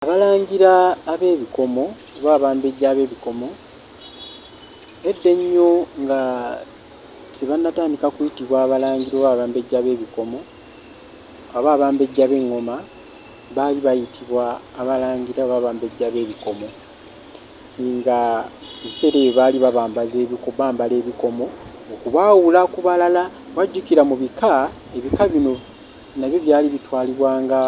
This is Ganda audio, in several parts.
Abalangira ab'ebikomo oba abambejja ab'ebikomo edda ennyo nga tebannatandika kuyitibwa abalangira oba abambejja b'ebikomo oba abambejja b'eŋŋoma baali bayitibwa abalangira oba abambejja b'ebikomo nga mu biseera ebyo baali babambaza ebiku bambala ebikomo okubaawula ku balala. Wajjukira mu bika, ebika bino... nabyo byali bitwalibwa nga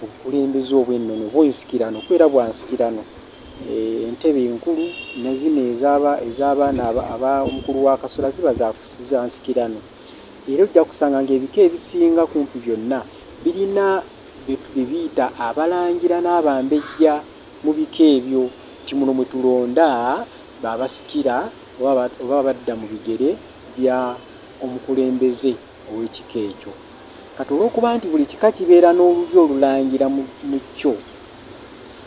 obukulembeze obw'ennono oba ensikirano kuba era bwa nsikirano eh, entebe enkulu ne zino ez'abaana aba omukulu wa kasula ziba za nsikirano era ojja kusanga ng'ebika ebisinga kumpi byonna birina bye biyita abalangira n'abambejja mu bika ebyo nti muno mwe tulonda baabasikira oba badda mu bigere bya omukulembeze ow'ekika ekyo. Kati olw'okuba nti buli kika kibeera n'olulyo olulangira mu, mu kyo,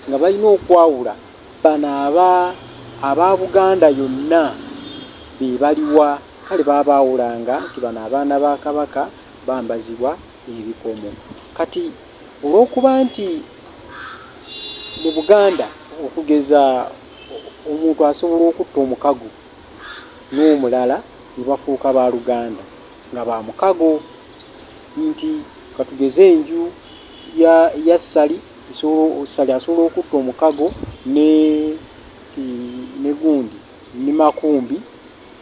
nga balina okwawula, bano aba, aba Buganda yonna be baliwa? Kale baba baawulanga nti bano abaana ba Kabaka bambazibwa ebikomo. Kati olw'okuba nti mu Buganda okugeza omuntu asobola okutta omukago n'omulala ne bafuuka ba luganda nga ba mukago nti katugeze enju ya ya Ssali esobola Ssali asobola okutta omukago ne ne gundi ne Makumbi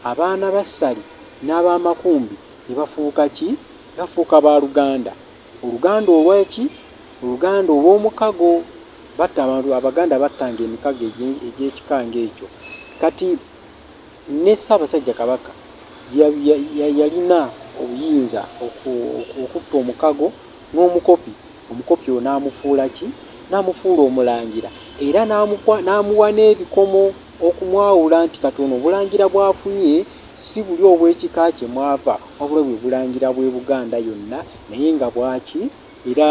abaana ba Ssali n'aba Makumbi ne bafuuka ki? Ne bafuuka ba luganda. Oluganda olwaki? Oluganda olw'omukago. Batta abantu, Abaganda battanga emikago egy'ekika ng'ekyo. Kati ne Ssaabasajja Kabaka yalina obuyinza okutta omukago n'omukopi, omukopi oyo n'amufuula ki? N'amufuula omulangira era n'amuwa n'ebikomo. okumwawula nti kati ono obulangira bw'afunye si buli obw'ekika kye mw'ava wabula bwe bulangira bw'e Buganda yonna naye nga bwaki era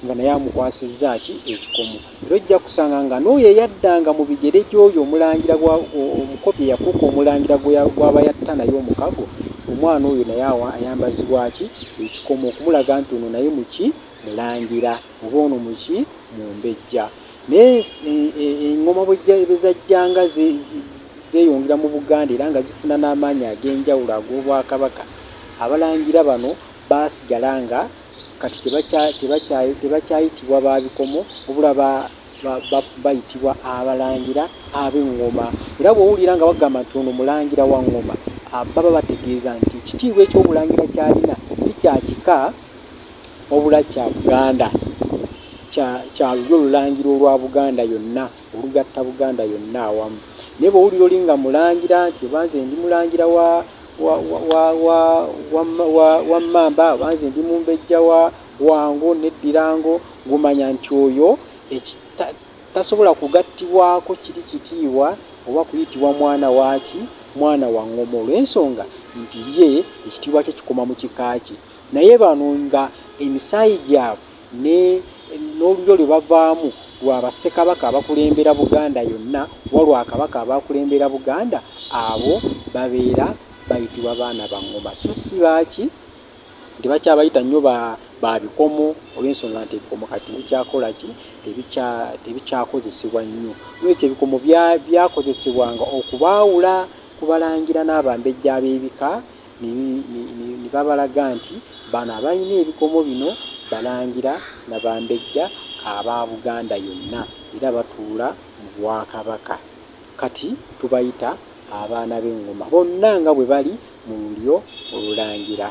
nga naye amukwasizza ki ekikomo. Era ojja kusanga nga n'oyo eyaddanga mu bigere gy'oyo omulangira omukopi eyafuuka omulangira gw'aba yatta naye omukago omwana oyo naye ayambazibwa ki ekikomo okumulaga nti ono naye muki mulangira oba ono muki mumbejja. Naye engoma bwezajjanga zeyongera mu Buganda era nga zifuna n'amaanyi ag'enjawulo ag'Obwakabaka, Abalangira bano baasigala nga kati tebakyayitibwa ba bikomo wabula bayitibwa Abalangira ab'engoma. Era bw'owulira nga bagamba nti ono Mulangira wa ngoma baba bategeeza nti ekitiibwa eky'Obulangira ky'alina si kya kika. Wabula kya Buganda, kya, kya lulyo lulangira olwa Buganda yonna, olugatta Buganda yonna awamu. Naye bwe wulira oli nga mulangira nti oba nze ndi mulangira wa, wa, wa, wa, wa, wa, wa, wa Mmamba, oba nze ndi mumbejja wa Wango ne Ddirango, ng'omanya nti oyo eki, ta, tasobola kugattibwako kiri kitiibwa oba kuyitibwa mwana waaki, mwana wa Ngoma olw'ensonga nti ye ekitiibwa kye kikoma mu kika kye. Naye bano nga emisaayi gyabwe ne n'olulyo lwe bavaamu lwa ba Ssekabaka abakulembera Buganda yonna oba lwa Kabaka abaakulembera Buganda abo babeera bayitibwa baana ba Ngoma so ssi ba ki? Nti bakyabayita nnyo ba ba bikomo olw'ensonga nti ebikomo kati tebikyakola ki? Tebikya tebikyakozesebwa nnyo. N'olwekyo ebikomo bya byakozesebwanga okubaawula ku Balangira n'Abambejja ab'ebika ne babalaga nti bano abalina ebikomo bino Balangira na Bambejja aba Buganda yonna era batuula mu Bwakabaka. Kati tubayita abaana b'Engoma bonna nga bwe bali mu lulyo Olulangira.